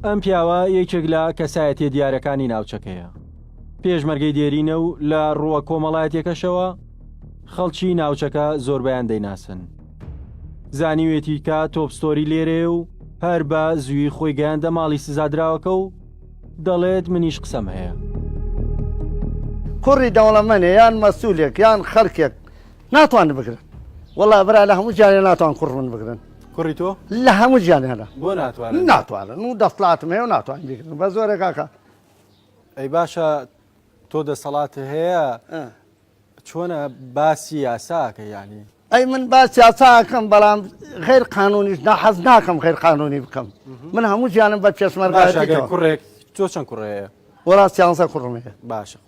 ئەم پیاوە یەکێک لە کەسایەتیە دیارەکانی ناوچەکەیە پێشمەرگەی دێرینە و لە ڕووە کۆمەڵایەتەکەشەوە خەڵکی ناوچەکە زۆربیان دەیناسن زانیوێتی کە تۆپستۆری لێرێ و هەر بە زووی خۆی گەیاندە ماڵی سزادراوەکە و دەڵێت منیش قسەم هەیە کوڕی دەوڵەمەنێ یان مەسوولێک یان خەرکێک ناتوان بگرن وەڵا برا لە هەموو جارێ ناتوان کوڕ من بگرن کوڕی تۆ لە هەموو جیانیانە بۆ ناتوانن ناتوانن و دەسڵاتم هەیە و ناتوان بگرن بە زۆرە کاکە ئەی باشە تۆ دەسەڵات هەیە چۆنە باسی یاساکە ینی ئەی من باس یاساکەم بەڵام غیر قانونیش ناحەز ناکەم غیر قانونی بکەم من هەموو جیانم بە پێشمەرگەکە کوڕێک تۆ چەند کوڕەیە وڵاستیانسە کوڕمەیە باشە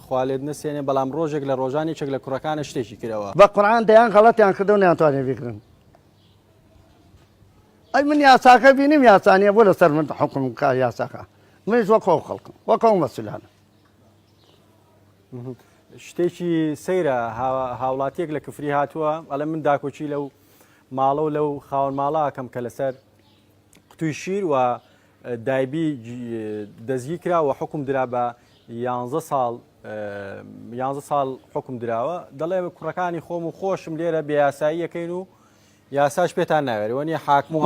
خوا لێت نەسێنێ بەڵام ڕۆژێک لە ڕۆژان یەکێک لە کوڕەکانت شتێکی کرەوە. بە قورعان دەیان غەڵەتیان کردەوە نەیانتوانیە بیکڕن ئەی من یاساکە بینیم یاسا نیە بۆ لەسەر من حکم بکا یاساکە منیش وەک ئەو خەڵکم وەک ئەو مەسولانە شتێکی سەیرە هاوڵاتیەک لە کفری هاتووە ئەلە من داکۆچی لەو ماڵە و لەو خاون ماڵاکەم کە لەسەر قوتوی شیر و دایبی دەستگیرکرا و حکوم درا بە یانزە ساڵ یانزە ساڵ حکم دراوە دەڵێ کوڕەکانی خۆم و خۆشم لێرە بێیاساییەکەین و یاساش پێتان ناوێری وەنی حاکم و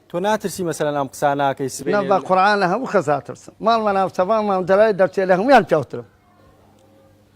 تۆ ناترسی مەسەرەن ئەم قساناکەی سبێ بە قڕانە هەموو خەزاترسم ماڵمە ناوچەبانمان دەلای دەرچێ لە هەمویان پیاوترم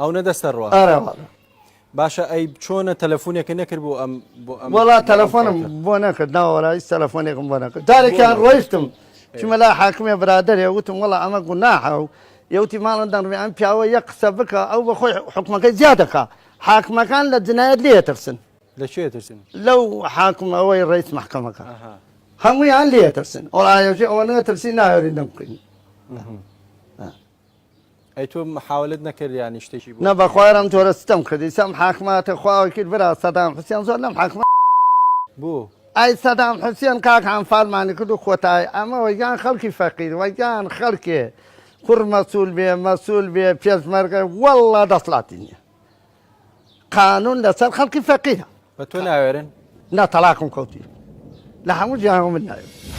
ئەو نەدەستە ڕوە ئەرەواڵە باشە ئەی چۆنە تەلەفۆنێکە نەکرد بۆ ئەم وڵا تەلەفۆنم بۆ نەکرد ناوەڕای تەلەفۆنێکم بۆ نەکرد دارێکیان ڕۆیشتم چمەلا حاکمێ برادێ وتم وڵا ئەمە گوناحە و یوتی ماڵن دەڕێ ئەم پیاوە یە قسە بکە ئەو بە خۆی حکومەکەی زیادەکە حاکمەکان لە جنایەت لێ ترسن لە چێ ترسن لەو حاکم ئەوەی ڕیس محکەمەکە هەموویان لێ ترسن ئەوڵایەژێ ئەوە نە ترسی ناوێرین دەم بکەین ئەی تۆ محاولت نەکرد یانی شتێکی بۆ نا بەخوای ئەم جۆرە ستەم کردی سەم حاکماتە خواوە کرد برا سەدام حوسێن زۆر لەم حاکمە بۆ ئای سەدام حوسێن کاک ئەنفالمانی کرد و کۆتایی ئەمە وەگیان خەڵکی فەقیر وەگیان خەڵکێ کوڕ مەسول بێ مەسول بێ پێشمەرگە واللە دەسڵاتی نییە قانون لەسەر خەڵکی فەقیرە بە تۆ ناوێرن نا تەلاقم کەوتی لە هەموو جیهان من ناوێرن